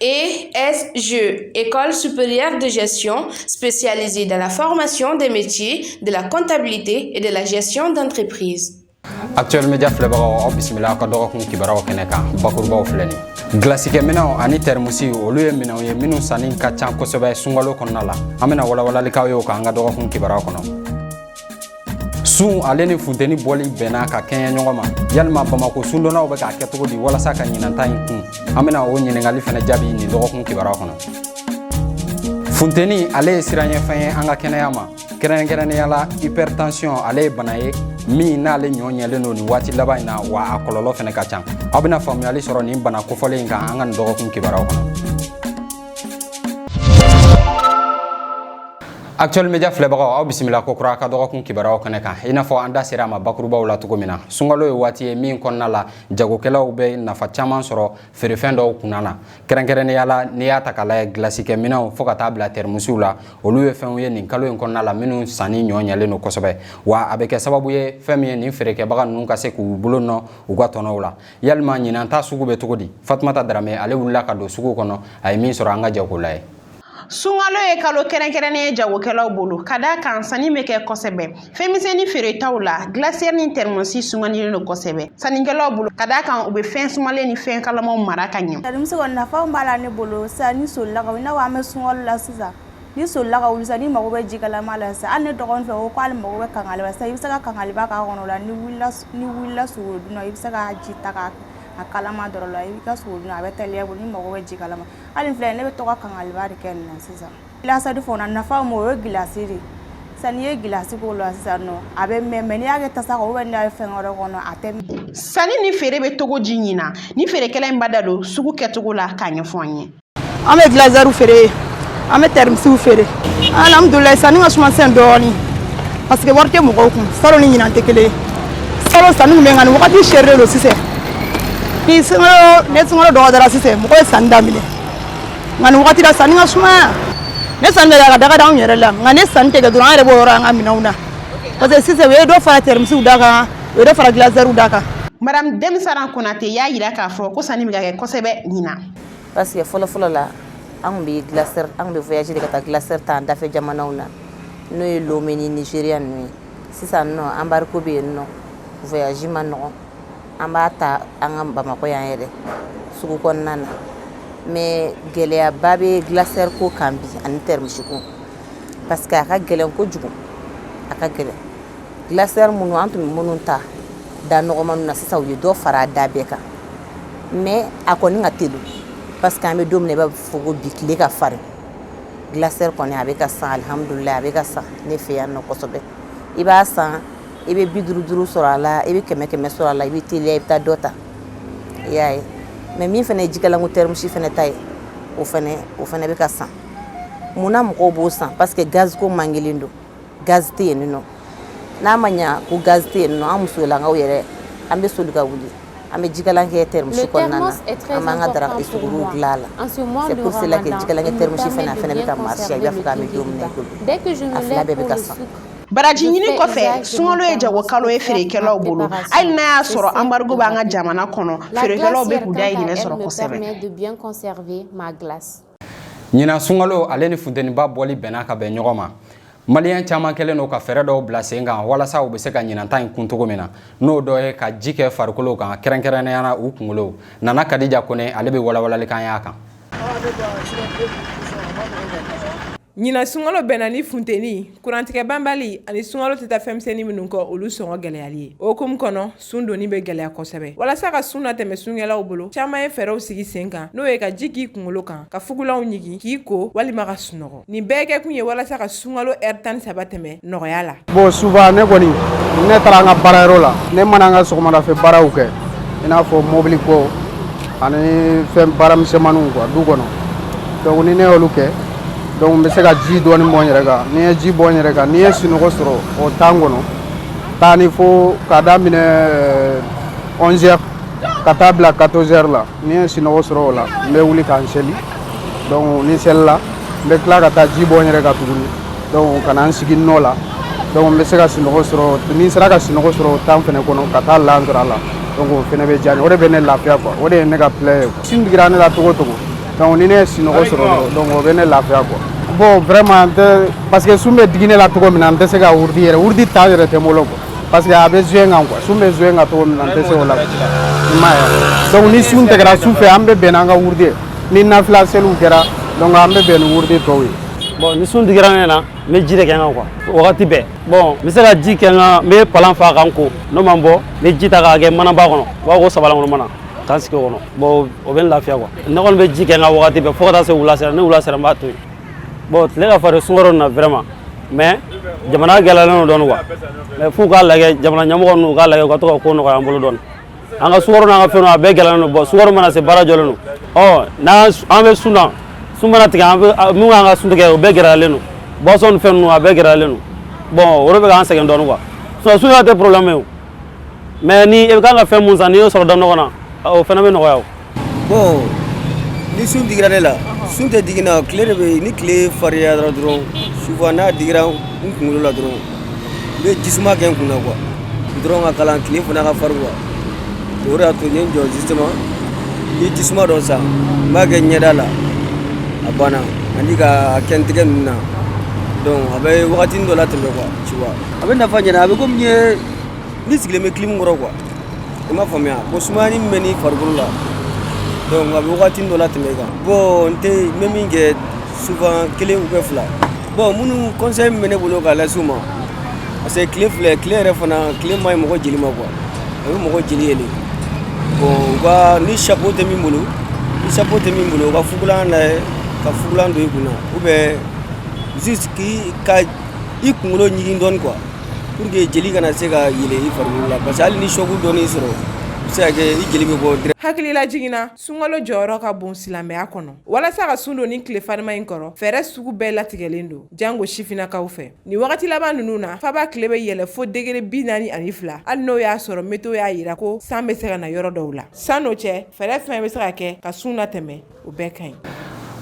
ESG, École supérieure de gestion spécialisée dans la formation des métiers de la comptabilité et de la gestion d'entreprise. actuel media filɛbagaw aw bisimila aw ka dɔgɔkun kibaruyaw kɛnɛ kan bakurubaw filɛ ni gilasikɛminɛnw ani tɛrimusiw olu ye minɛnw ye minnu sanni ka ca kosɛbɛ sunkalo kɔnɔna la an bɛna walawalali k'aw ye o kan an ka dɔgɔkun kibaruyaw kɔnɔ sun ale ni funteni bɔli bɛnna ka kɛɲɛ ɲɔgɔn ma yalima bamako sundonnaw bɛ k'a kɛ cogo di walasa ka ɲinan ta in kun an bɛna o ɲininkali fana jaabi nin dɔgɔkun kibaruya kɔnɔ funteni ale ye siranɲɛfɛn ye an ka kɛnɛya ma kɛrɛnkɛrɛnnenya la hypertension ale ye bana ye min n'ale ɲɔ ɲɛlen don nin waati laban in na wa a kɔlɔlɔ fana ka ca aw bɛna faamuyali sɔrɔ nin bana kofɔlen in kan an ka nin dɔgɔkun kibaruyaw kɔnɔ Actuel Media filɛbagaw aw bisimila kokura ka dɔgɔkun kibaruyaw kɛnɛ kan i n'a fɔ an da sera a ma bakurubaw la cogo min na sunkalo ye waati ye min kɔnɔna la jagokɛlaw bɛ nafa caman sɔrɔ feerefɛn dɔw kunna na kɛrɛnkɛrɛnnenya la n'i y'a ta k'a lajɛ gilasikɛminɛnw fo ka taa bila tɛrɛmusiw la olu ye fɛnw ye nin kalo in kɔnɔna la minnu sanni ɲɔ ɲɛlen don kosɛbɛ wa a bɛ kɛ sababu ye fɛn min ye nin feerekɛbaga ninnu ka se k'u bolo nɔ u ka tɔnɔw la yalima ɲinan ta sugu bɛ cogo di fatumata darame ale wulila ka don sugu kɔnɔ a ye min sɔrɔ an ka jɛ k'o lajɛ sunkalo ye kalo kɛrɛnkɛrɛnnen ye jagokɛlaw bolo ka d'a kan sanni bɛ kɛ kosɛbɛ fɛnmisɛnnin feeretaw la gilasiyɛri ni tɛrimɔsi sugandilen don kosɛbɛ sannikɛlaw bolo ka d'a kan u bɛ fɛn sumalen ni fɛn kalamaw mara ka ɲɛ tɛrimɔsi kɔni nafaw b'a la ne bolo sisan n'i solila ka wuli i n'a fɔ an bɛ sunkalo la sisan n'i solila ka wuli sisan n'i mago bɛ jikalama la sisan hali ne dɔgɔnin fɛ o ko k'ale mago bɛ kinkeliba la sisan i bɛ se ka kinkeliba k'a kɔnɔ o la n'i wulila n'i wulila suguridun na i bɛ se ka ji ta k'a a kalama dɔrɔn la i ka suguridun a bɛ teliya i bolo n'i mago bɛ jikalama hali filɛ ne bɛ to ka kinkeliba kɛ nin na sisan gilasiyɛri fana nafa ma o ye gilasi de sisan n'i ye gilasi k'o la sisan nɔ a bɛ mɛɛn n'i y'a kɛ tasa kɔnɔ n'i y'a kɛ fɛn wɛrɛ kɔnɔ a tɛ mɛɛn sanni ni feere bɛ cogo di ɲinan nin feerekɛla in b'a da don sugu kɛcogo la k'a ɲɛfɔ an ye an bɛ gilasiyɛriw feere an bɛ tɛrimisiw feere alhamdulilayi sanni ka suma sisan dɔɔnin parce que wari tɛ mɔgɔw kun salon ni ɲinan tɛ kelen salon sanni kun bɛ nka nin wagati sɛrilen don sisan ni sunkalo ni sunkalo dɔgɔdara sisan mɔgɔ ye sanni daminɛ nka nin wagati la sanni ka sumaya ni sanni bɛ ka daga d'anw yɛrɛ la nka ni sanni tɛ kɛ dɔrɔn an yɛrɛ b'o yɔrɔ an ka minɛnw na parce que sisan u ye dɔ fara tɛrimisiw da kan u ye dɔ fara gilasiyɛriw da kan madame dɛm saran konate y'a yira k'a fɔ ko sanni bɛ ka kɛ kosɛbɛ ɲinan parce que fɔlɔ fɔlɔ la an tun bɛ gilasiyɛri an tun bɛ voyager de ka taa gilasiyɛri ta an dafɛ jamanaw na n'o ye lome ni nigeriya ninnu ye sisan nɔ embargo bɛ yen nɔ voyage man nɔgɔn an b'a ta an ka bamakɔ yan yɛrɛ sugu kɔnɔna na mais gɛlɛyaba bɛ glacière ko kan bi ani termisi ko parce que a ka gɛlɛn kojugu a ka gɛlɛn glacière minnu an tun bɛ minnu ta da nɔgɔmaniw na sisan u ye dɔ fara a da bɛɛ kan mais a kɔni ka teli parce que an bɛ don min na i b'a fɔ ko bi tile ka farin glacière kɔni a bɛ ka san alihamudulilayi a bɛ ka san ne fɛ yan nɔ kosɛbɛ i b'a san i bɛ bi duuru duuru sɔrɔ a la i bɛ kɛmɛ kɛmɛ sɔrɔ a la i bɛ teliya i bɛ taa dɔ ta i y'a ye mais min fana ye jikalanko termisi fana ta ye o fana bɛ ka san mun na mɔgɔw b'o san parce que gaz ko mankelen don gaz tɛ yen nɔ n'a ma ɲa ko gaz tɛ yen nɔ an musolakaw yɛrɛ an bɛ soli ka wuli an bɛ jikalan kɛ termos kɔnɔna na an b'an ka daraka suguriw dilan a la c'est pour cela que jikalan kɛ termos fana a fana bɛ ka marcher i b'a fɔ k'an bɛ don min na i ko bi a fila bɛɛ bɛ ka san baraji ɲini kɔfɛ sunkalo ye jagokalo ye feerekɛlaw bolo hali n'a y'a sɔrɔ embargo b'an ka jamana kɔnɔ feerekɛlaw bɛ k'u dayirimɛ sɔrɔ kosɛbɛ ɲinan sunkalo ale ni funteniba bɔli bɛnna ka bɛn ɲɔgɔn ma maliyɛn caman kɛlen don ka fɛɛrɛ dɔw bila sen kan walasa u bɛ se ka ɲinan ta in kun cogo min na n'o dɔ ye ka ji kɛ farikolo kan kɛrɛnkɛrɛnnenya na u kunkolo nana kadija kone ale bɛ walawalali k'an y'a kan Ɲinan sunkalo bɛnna ni funteni kurantigɛ banbali ani sunkalo tɛ taa fɛnmisɛnnin minnu kɔ olu sɔngɔ gɛlɛyali ye o hukumu kɔnɔ sun donni bɛ gɛlɛya kosɛbɛ walasa ka sun latɛmɛ sunkɛlaw bolo caman ye fɛɛrɛw sigi sen kan n'o ye ka ji k'i kunkolo kan ka fugulanw ɲigin k'i ko walima ka sunɔgɔ nin bɛɛ kɛkun ye walasa ka sunkalo ɛri tan ni saba tɛmɛ nɔgɔya la bon souvent ne kɔni ne taara an ka baarayɔrɔ la ne mana an ka sɔgɔmada fɛ baaraw kɛ i n'a fɔ mɔbili ko ani fɛn baaramisɛnmaniw quoi du kɔnɔ donc ni ne y'olu kɛ donc n bɛ se ka ji dɔɔni bɔn n yɛrɛ kan ni n ye ji bɔn n yɛrɛ kan ni n ye sunɔgɔ sɔrɔ o temps kɔnɔ taa ni fo k'a daminɛ 11 heures ka taa bila 14 heures la ni n ye sinɔgɔ sɔrɔ o la n bɛ wuli ka n seli donc ni n selila n bɛ tila ka taa ji bɔn n yɛrɛ kan tuguni donc ka na n sigi nɔ la donc n bɛ se ka sinɔgɔ sɔrɔ ni n sera ka sinɔgɔ sɔrɔ o temps fɛnɛ kɔnɔ ka taa laansara la donc o fɛnɛ bɛ diya n ye o de bɛ ne lafiya quoi o de ye ne ka plaisir ye sun digira ne la cogo o cogo donc ni ne ye sinɔgɔ sɔrɔ donc o bɛ ne lafiya quoi bon vraiment n tɛ parce que sun bɛ digi ne la cogo min na n tɛ se ka wurudi yɛrɛ wurudi temps yɛrɛ tɛ n bolo quoi parce que a bɛ jouer n kan quoi sun bɛ jouer n kan cogo min na n tɛ se o la i m'a ye donc ni sun tigɛra su fɛ an bɛ bɛn n'an ka wurudi ni nafila seliw kɛra donc an bɛ bɛn ni wurudi tɔw ye bon ni sun digira ne na n bɛ ji de kɛ n kan quoi wagati bɛɛ bon n bɛ se ka ji kɛ n kan n bɛ palan fa ka n ko n'o ma bɔ n bɛ ji ta k'a kɛ manaba kɔnɔ u b'a ko sabalankolon mana ka n sigi o kɔnɔ bon o bɛ n lafiya quoi ne kɔni bɛ ji kɛ n kan wagati bɛɛ fo ka taa se wula sera ni wula sera n b'a to yen bon tile ka farin sungaro na vraiment mais jamana gɛlɛyalen don dɔɔni quoi mais f'u k'a lajɛ jamana ɲɛmɔgɔ ninnu u k'a lajɛ u ka to ka ko nɔgɔya an bolo dɔɔni an ka sukaro n'an ka fɛnw a bɛɛ gɛlɛyalen don bon sungaro mana se baara jɔlen don ɔ n'an an bɛ sun na sun mana tigɛ an bɛ mun k'an ka sun tigɛ o bɛɛ gɛlɛyalen don boisson ni fɛn ninnu a bɛɛ gɛlɛyalen don bon o de bɛ k'an sɛgɛn dɔɔni quoi sinon sun yɛrɛ tɛ problème ye o mais ni e bɛ kan ka fɛn mun san n'i y'o sɔrɔ da nɔgɔ na o fana bɛ nɔgɔya o bon ni sun digira ne la sun tɛ digi n na tile de bɛ ni tile fariyara dɔrɔn souvent n'a digira n kunkolo la dɔrɔn n bɛ jisuma kɛ n kun na quoi dɔrɔn ka kalan tile fana ka farin quoi o de y'a to n ye n jɔ justement n ye jisuma dɔ san n b'a kɛ ɲɛda la a banna ani k'a kɛ n tɛgɛ ninnu na donc a bɛ wagatinin dɔ latɛmɛ quoi tu vois a bɛ nafa ɲɛna a bɛ komi n ye N'i sigilen bɛ clim kɔrɔ quoi i m'a faamuya ko sumaya min bɛ n'i farikolo la donc a bɛ waati dɔ latɛmɛ i kan bon n bɛ min kɛ souvent kelen ou bien fila bon minnu conseil min bɛ ne bolo k'a lase u ma parce que tile filɛ tile yɛrɛ fana tile man ɲi mɔgɔ jeli ma quoi a bɛ mɔgɔ jeli yɛlɛ bon ni chapeau tɛ min bolo ni chapeau tɛ min bolo u ka fugulan lajɛ ka fugulan don i kunna ou bien i ka i kunkolo ɲigin dɔɔnin quoi Pour que jeli kana se ka yɛlɛ i fari la parce que hali ni choc dɔɔni sɔrɔ se i jeli bɛ bɔ hakilila jiginna sunkalo jɔyɔrɔ ka bon silamɛya kɔnɔ walasa ka sun don ni tile farima in kɔrɔ fɛɛrɛ sugu bɛɛ latigɛlen don jango sifinnakaw fɛ ni wagati laban ninnu na faba tile bɛ yɛlɛ fo degere bi naani ani fila hali n'o y'a sɔrɔ météo y'a jira ko san bɛ se ka na yɔrɔ dɔw la sann'o cɛ fɛɛrɛ fɛn bɛ se ka kɛ ka sun latɛmɛ o bɛɛ ka ɲi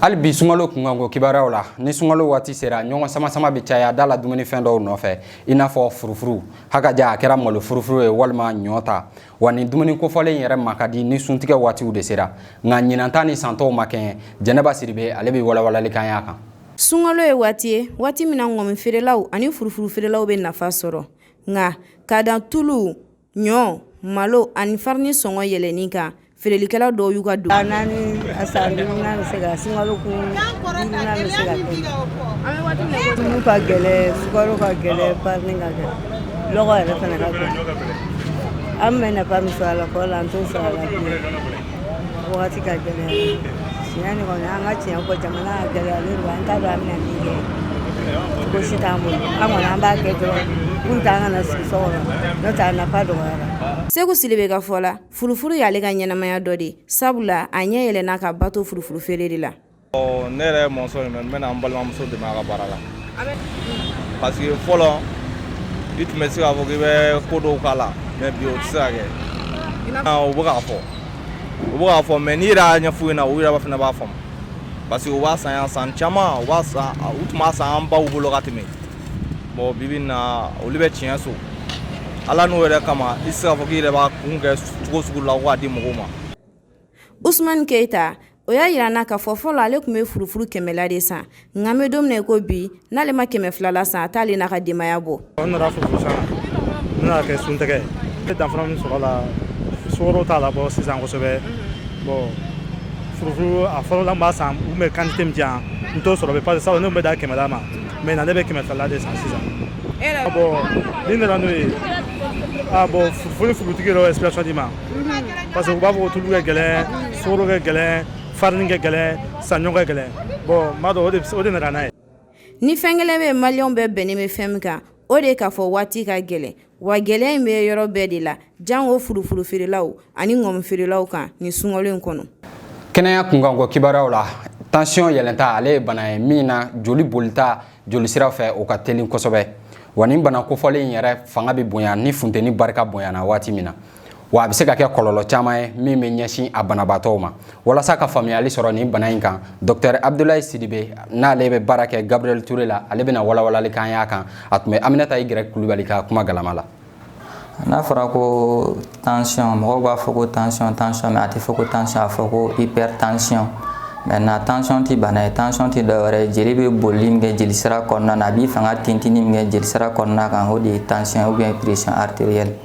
hali bi sungalo kunkanko kibaruyaw la ni sungalo waati sera ɲɔgɔn samasama bɛ caya da la dumunifɛn dɔw nɔfɛ i n'a fɔ furufuru hakaja a kɛra malo furufuru ye walima ɲɔ ta wa nin dumuni kofɔlen yɛrɛ ma ka di ni suntigɛ waatiw de sera nka ɲinanta ni san tɔw ma kɛɲɛ jɛnɛba sidibe ale bɛ walawalali k'an y'a kan sunkalo ye waati ye waati min na ŋɔmi feerelaw ani furufuru feerelaw bɛ nafa sɔrɔ nka k'a da tulu ɲɔ malo ani farini sɔngɔ yɛlɛnni kan feerelikɛla dɔw y'u ka don a naani a san duurunan bɛ se ka sunkalo kun duurunan bɛ se ka kɛ tulu ka gɛlɛ sukaro ka gɛlɛ farini ka gɛlɛ lɔgɔ yɛrɛ fana ka gɛlɛ an bɛ nafa min sɔrɔ a la fɔlɔ la an t'o sɔrɔ a la wagati ka gɛlɛn tiɲɛ de kɔni an ka tiɲɛ fɔ jamana gɛlɛyalen don an t'a dɔn an bɛna min kɛ cogo si t'an bolo an kɔni an b'a kɛ dɔrɔn pour que an kana sigi so kɔnɔ n'o tɛ a nafa dɔgɔyara seku sidibe ka fɔ la furufuru y'ale ka ɲɛnamaya dɔ de ye sabula a ɲɛ yɛlɛnna k'a ba to furufuru feere de la ne yɛrɛ ye maçon ye mais n bɛna n balimamuso dɛmɛ a ka baara la parce que fɔlɔ i tun bɛ se k'a fɔ k'i bɛ ko dɔw k'a la mais bi o tɛ se ka kɛ u bɛ k'a fɔ u bɛ k'a fɔ mais n'i yɛrɛ y'a ɲɛf'u ɲɛna u yɛrɛ fana b'a faamu parce que u b'a san yan san caman u b'a san u tun b'a san an baw bolo ka tɛmɛ bon bi bi in na olu bɛ tiɲɛ so ala n'o yɛrɛ kama i tɛ se k'a fɔ k'i yɛrɛ b'a kun kɛ cogo sugu la ko k'a di mɔgɔw ma usumani keyita o y'a jira na ka fɔ fɔlɔ ale tun bɛ furu kɛmɛla de san nka bɛ don min ko bi n'ale ma kɛmɛ filala san a t'ale n'a ka denbayaya bɔ kɛ sun tigɛ t'a la bɔ sisan kosɛbɛ furu a fɔlɔ san u bɛ kan tɛ jan n to sɔrɔ pa sa ne bɛ da kɛmɛ ma mɛ na ne bɛ kɛmɛ filala de san sisan ni nana n'o ye bɔn furutigi dɔ ye sirati ma parce que u b'a fɔ ko tulu ka gɛlɛn sukaro ka gɛlɛn farini ka gɛlɛn saɲɔ ka gɛlɛn bon n b'a dɔn o de nana n'a ye ni fɛn kelen bɛ maliyɛnw bɛɛ bɛnnen bɛ fɛn min kan o de ye k'a fɔ waati ka gɛlɛn wa gɛlɛya in bɛ yɔrɔ bɛɛ de la jango furufuru feerelaw ani ŋɔmi feerelaw kan nin sunkalo in kɔnɔ kɛnɛya kunkanko kibaruyaw la tansiyɔn yɛlɛnta ale ye bana ye min na joli bolita jolisira fɛ o ka telin kosɛbɛ wa nin bana kofɔlen in yɛrɛ fanga bɛ bonya ni funteni barika bonyana waati min na wa a bɛ se ka kɛ kɔlɔlɔ caman ye min bɛ ɲɛsin a banabaatɔw ma walasa ka faamuyali sɔrɔ nin bana in kan dɔktɛr abudulayi sidibe n'ale bɛ baara kɛ gabriel ture la ale bɛna walawalali k'an y'a kan a tun bɛ aminata igirɛki kulubali ka kuma galama la n'a fɔra ko tansiyɔn mɔgɔw b'a fɔ ko tansiyɔn tansiyɔn mais a tɛ fɔ ko tansiyɔn a fɔ ko hypertension maintenant tansiyɔn tɛ bana ye tansiyɔn tɛ dɔwɛrɛ ye jeli bɛ bolili min kɛ jelisira kɔnɔna na a b'i fanga tintini min kɛ jelisira kɔnɔna kan o de ye tansiyɔn ou bien pression artérielle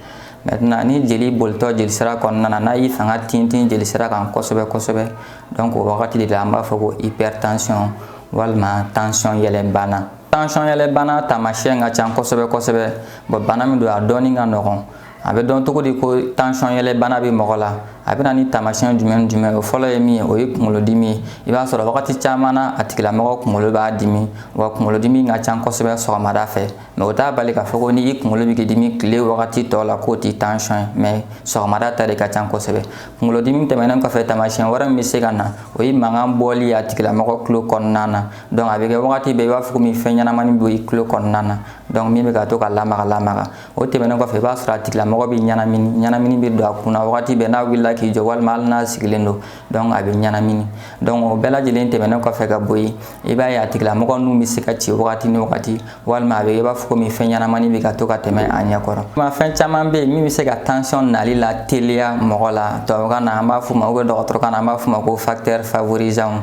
maintenant ni jeli bolitɔ jelisira kɔnɔna na n'a y'i fanga tintin jelisira kan kosɛbɛ kosɛbɛ donc o wagati de la an b'a fɔ ko hypertension walima tansiyɔn yɛlɛnbana tansɔn yɛlɛbana taamasiyɛn ka ca kosɛbɛ kosɛbɛ bon bana min don a dɔnni ka nɔgɔn a bɛ dɔn cogo di ko tansɔn yɛlɛbana bɛ mɔgɔ la a bɛ na ni taamasiyɛn jumɛn ni jumɛn o fɔlɔ ye min ye o ye kunkolodimi ye i b'a sɔrɔ wagati caman na a tigilamɔgɔ kunkolo b'a dimi wa kunkolodimi ka ca kosɛbɛ sɔgɔmada fɛ mais o t'a bali k'a fɔ ko n'i kunkolo bɛ k'i dimi tile wagati tɔ la k'o tɛ tansɔn ye mais sɔgɔmada ta de ka ca kosɛbɛ kunkolodimi tɛmɛnen kɔfɛ taamasiyɛn wɛrɛ min bɛ se ka na o ye mankan bɔli ye a tigilamɔgɔ tulo kɔnɔna na donc a bɛ kɛ wagati bɛɛ i b'a fɔ komi fɛn ɲɛnamani bɛ i tulo kɔnɔna na donc min bɛ ka to ka lamaga lamaga o tɛmɛnen kɔfɛ i b'a sɔrɔ a tigilamɔgɔ bɛ ɲɛnamini ɲɛnamini bɛ don a kunna wagati bɛɛ n'a wulila k'i jɔ walima hali n'a sigilen don donc a bɛ ɲɛnamini donc o bɛɛ lajɛlen tɛmɛnen kɔfɛ ka bɔ yen i b'a ye a tigilamɔgɔ nun bɛ se ka ci wagati ni wagati walima a bɛ i b'a fɔ komi fɛn ɲɛnamani bɛ ka to ka tɛmɛ a ɲɛ kɔrɔ fɛn caman bɛ yen min bɛ se ka tension nali lateliya mɔgɔ la tubabukan na an b'a fɔ o ma ou bien dɔgɔtɔrɔkan na an b'a fɔ o ma ko facteur favorisant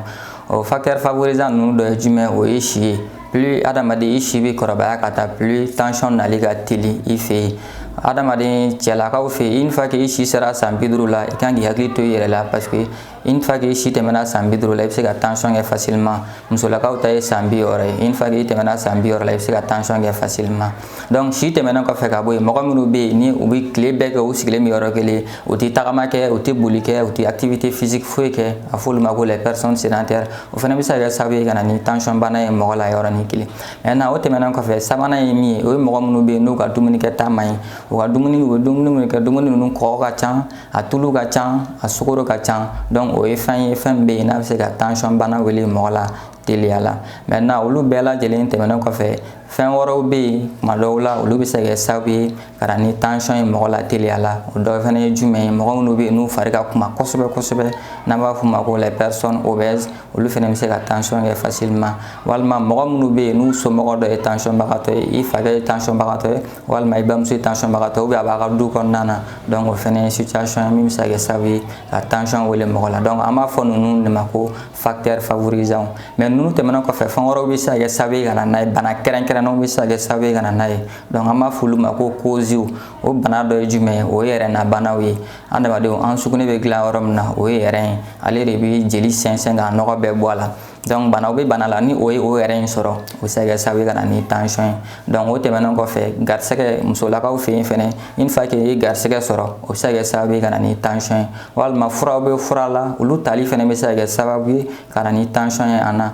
o facteur favorisant ninnu dɔ ye jumɛn o ye si ye plus adamaden i si bɛ kɔrɔbaya ka taa plus tension nali ka teli i fɛ yen adamaden cɛlakaw fɛ yen une fois que i si sera san bi duuru la i kan k'i hakili to i yɛrɛ la parce que une fois que i si tɛmɛna san bi duuru la i bɛ se ka tension kɛ facilement musolakaw ta ye san bi wɔɔrɔ ye une fois que i tɛmɛna san bi wɔɔrɔ la i bɛ se ka tension kɛ facilement donc si tɛmɛnen kɔfɛ ka bɔ yen mɔgɔ minnu bɛ yen ni u bɛ tile bɛɛ kɛ u sigilen bɛ yɔrɔ kelen u tɛ tagama kɛ u tɛ boli kɛ u tɛ activité physique foyi kɛ a f'olu ma ko les personnes sédentaires o fana bɛ se ka kɛ sababu ye ka na ni tension bana ye mɔgɔ la yɔrɔnin kelen maintenant o tɛmɛnen kɔfɛ sabanan ye min ye o ye mɔgɔ minnu bɛ yen n'u ka dumunikɛta man ɲi u ka dumuni u bɛ dumuni minnu kɛ dumuni ninnu kɔgɔ ka ca a tulu ka ca a sukoro ka ca donc o ye fɛn ye fɛn min bɛ yen n'a bɛ se ka tension bana wele mɔgɔ la teliya la maintenant olu bɛɛ lajɛlen tɛmɛnen kɔfɛ fɛn wɛrɛw bɛ yen kuma dɔw la olu bɛ se ka kɛ sababu ye ka na ni tension ye mɔgɔ la teliya la o dɔ fana ye jumɛn ye mɔgɔ minnu bɛ yen n'u fari ka kunba kosɛbɛ kosɛbɛ n'an b'a f'o ma ko les personnes obèses olu fana bɛ se ka tension kɛ facilement walima mɔgɔ minnu bɛ yen n'u somɔgɔ dɔ ye tension bagatɔ ye i fakɛ ye tension bagatɔ ye walima i bamuso ye tension bagatɔ ye a b'a ka du kɔnɔna na donc o fana ye situation ye min bɛ se ka kɛ sababu ye ka tension wele mɔgɔ la donc an b'a fɔ ninnu de ma ko facteur favorisant mais ninnu tɛmɛnen kɔfɛ fɛn wɛrɛw bɛ se ka kɛ sababu ye ka na n'a ye bana kɛrɛnkɛrɛnnenw bɛ se ka kɛ sababu ye ka na n'a ye donc an b'a fɔ olu ma ko causes o bana dɔ ye jumɛn ye o ye rein na banaw ye adamadenw an sugunɛ bɛ dilan yɔrɔ min na o ye rein ye ale de bɛ jeli sɛnsɛn k'a nɔgɔ bɛɛ bɔ a la donc banaw bɛ bana la ni o ye o rein in sɔrɔ o bɛ se ka kɛ sababu ye ka na ni tension ye donc o tɛmɛnen kɔfɛ garisɛgɛ musolakaw fɛ yen fɛnɛ une fois que i ye garisɛgɛ sɔrɔ o bɛ se ka kɛ sababu ye ka na ni tension ye walima furaw bɛ fura la olu tali fɛnɛ bɛ se ka kɛ sababu ye ka na ni tension ye an na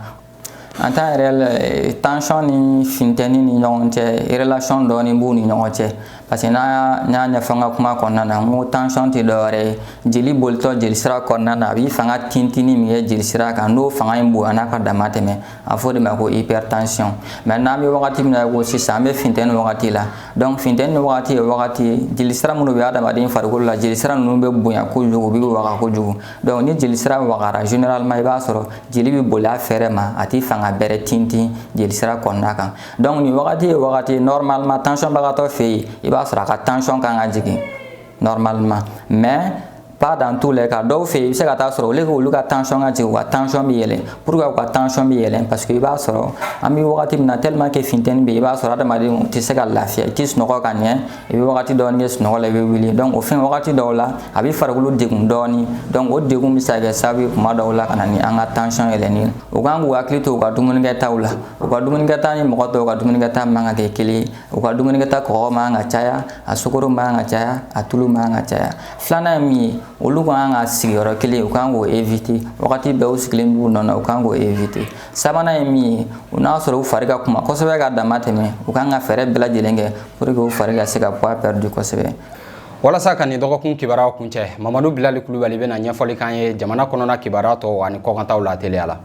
en temps réel euh, tension ni funteni ni ɲɔgɔn cɛ relation dɔɔni b'u ni ɲɔgɔn cɛ parce que n'an y'a ɲɛfɔ an ka kuma kɔnɔna na n ko tension tɛ dɔwɛrɛ ye jeli bolitɔ jelisira kɔnɔna na a bɛ fanga tintinni min kɛ jelisira kan n'o fanga in bonyana ka dama tɛmɛ a f'o de ma ko hypertension mais n'an bɛ wagati min na ko sisan an bɛ funteni wagati la donc funteni wagati ye wagati ye jelisira minnu bɛ adamaden farikolo la jelisira ninnu bɛ bonya kojugu u bɛ waga kojugu donc ni jelisira wagara généralement i b'a sɔrɔ jeli bɛ boli a fɛrɛ ma a tɛ fanga bɛrɛ tintin jelisira kɔnɔna kan donc nin wagati ye wagati ye normalement tension bagatɔ fɛ yen i b'a sɔrɔ a ka tension kan ka jigin normalement mais Pas dans tous les cas dɔw fɛ yen i bɛ se ka taa sɔrɔ au lieu k'olu ka tension ka jigin u ka tension bɛ yɛlɛn pourquoi u ka tension bɛ yɛlɛn parce que i b'a sɔrɔ an bɛ wagati min na tellement que funteni bɛ yen i b'a sɔrɔ adamadenw tɛ se ka lafiya i tɛ sunɔgɔ ka ɲɛ i bɛ wagati dɔɔni kɛ sunɔgɔ la i bɛ wuli donc o fɛn wagati dɔw la a bɛ farikolo degun dɔɔni donc o degun bɛ se ka kɛ sababu ye kuma dɔw la ka na ni an ka tension yɛlɛnni ye u kan k'u hakili to u ka dumunikɛtaw la u ka dumunikɛta ni mɔgɔ tɔw ka dumunikɛta man ka kɛ kelen ye u ka dumunikɛta kɔgɔ man ka caya a sukoro man ka caya a tulu man ka caya filanan ye min ye olu ka kan ka sigiyɔrɔ kelen u kan k'o éviter wagati bɛɛ u sigilen b'u nɔ na u kan k'o éviter sabanan ye min ye u n'a sɔrɔ u fari ka kuma kosɛbɛ ka dama tɛmɛ u kan ka fɛɛrɛ bɛɛ lajɛlen kɛ pour que u fari ka se ka poids perdu kosɛbɛ walasa ka nin dɔgɔkun kibaruyaw kuncɛ mamadu bilali kulubali bɛna ɲɛfɔli k'an ye jamana kɔnɔna kibaruya tɔw ani kɔkantaw la teliya la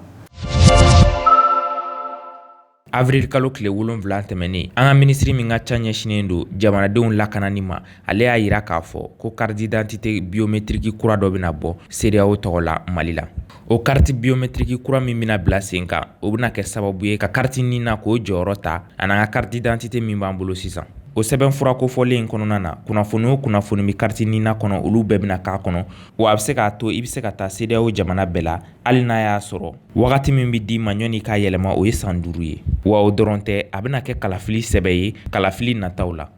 Avril kalo tile 7 tɛmɛnen an ka minisiri min ka ca ɲɛsinnen don jamanadenw lakanani ma ale y'a jira k'a fɔ ko carte d'identité biometiriki kura dɔ bɛna bɔ CEDEAO tɔgɔ la mali la o kariti biometiriki kura min bɛna bila sen kan o bɛna kɛ sababu ye ka kariti nina k'o jɔyɔrɔ ta ani an ka carte d'identité min b'an bolo sisan o sɛbɛn fura kofɔlen in kɔnɔna na kunnafoni o kunnafoni bɛ kariti nina kɔnɔ olu bɛɛ bɛna k'a kɔnɔ wa a bɛ se k'a to i bɛ se ka taa CEDEAO jamana bɛɛ la hali n'a y'a sɔrɔ wagati min bɛ d'i ma ɲɔni k'a yɛlɛma o ye san duuru ye wa o dɔrɔn tɛ a bɛna kɛ kalafili sɛbɛn ye kalafili nataw la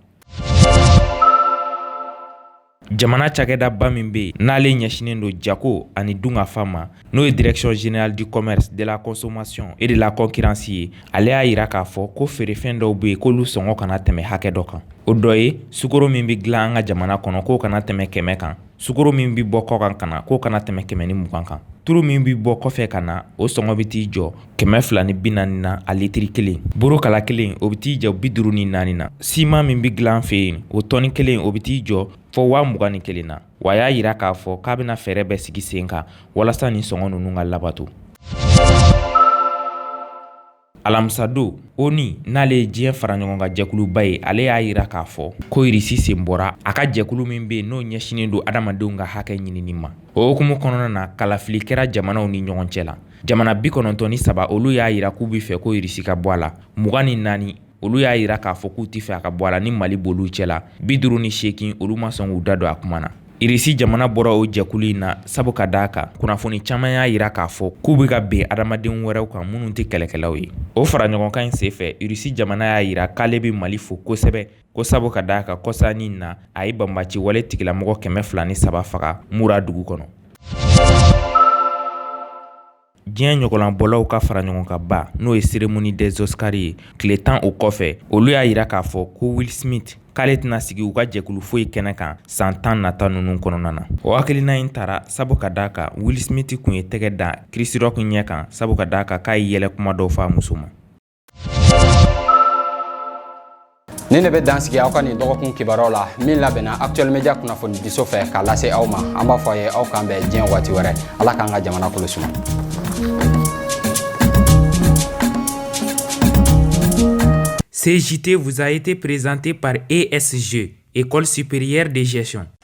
jamana cakɛdaba min bɛ yen n'ale ɲɛsinen don jago ani dunkafa ma n'o ye direction générale du commerce de la consommation et de la concurrence ye ale y'a jira k'a fɔ ko feerefɛn dɔw bɛ yen k'olu sɔngɔ kana tɛmɛ hakɛ dɔ kan o dɔ ye sukoro min bɛ dilan an ka jamana kɔnɔ k'o kana tɛmɛ kɛmɛ kan sukoro min bɛ bɔ kɔkan ka na k'o kana tɛmɛ kɛmɛ ni mugan kan turu min bɛ bɔ kɔfɛ ka na o sɔngɔ bɛ t'i jɔ kɛmɛ fila ni bi naani na a litiri kelen buru kala kelen o bɛ t'i jɔ bi duuru ni naani na siman min bɛ dilan fɛ yen o tɔni kelen o bɛ t'i jɔ fɔ waa mugan ni kelen na wa a y'a jira k'a fɔ k'a bɛna fɛɛrɛ bɛɛ sigi sen kan walasa nin sɔngɔ ninnu ka labato alamisadon ONU n'ale ye diɲɛ fara ɲɔgɔn kan jɛkuluba ye ale y'a jira k'a fɔ ko irisi sen bɔra a ka jɛkulu min bɛ yen n'o ɲɛsinnen don adamadenw ka hakɛ ɲinini ma o hukumu kɔnɔna na kalafili kɛra jamanaw ni ɲɔgɔn cɛ la jamana bi kɔnɔntɔn ni saba olu y'a jira k'u bɛ fɛ ko irisi ka bɔ a la mugan ni naani olu y'a jira k'a fɔ k'u tɛ fɛ a ka bɔ a la ni mali b'olu cɛ la bi duuru ni seegin olu ma sɔn k'u da don a kuma na Irisi jamana bɔra o jɛkulu in na sabu ka d'a kan kunnafoni caman y'a jira k'a fɔ k'u bɛ ka bin adamaden wɛrɛw kan minnu tɛ kɛlɛkɛlaw ye o fara ɲɔgɔnkan in senfɛ irisi jamana y'a jira k'ale bɛ mali fo kosɛbɛ ko sabu ka d'a kan kɔsa in na a ye banbaci wale tigilamɔgɔ kɛmɛ fila ni saba faga mura dugu kɔnɔ diɲɛ ɲɔgɔlɔnbɔlaw ka fara ɲɔgɔn kan ba n'o ye cérémonie des oscars ye tile tan o kɔfɛ olu y'a jira k'a fɔ ko will smith k'ale tɛna sigi u ka jɛkulu foyi kɛnɛ kan san tan nata ninnu kɔnɔna na o hakilina in tara sabu ka d'a kan will smith tun ye tɛgɛ da chris rock ɲɛ kan sabu ka d'a kan k'a ye yɛlɛ kuma dɔ fɔ a muso ma Nin ne bɛ dan sigi aw ka nin dɔgɔkun kibaruyaw la min labɛnna actuel media kunnafoni diso fɛ k'a lase aw ma an b'a fɔ a ye aw k'an bɛn diɲɛ waati wɛrɛ ala k'an ka jamana kɔnɔ suma Ce JT vous a été présenté par ESG, École supérieure de gestion.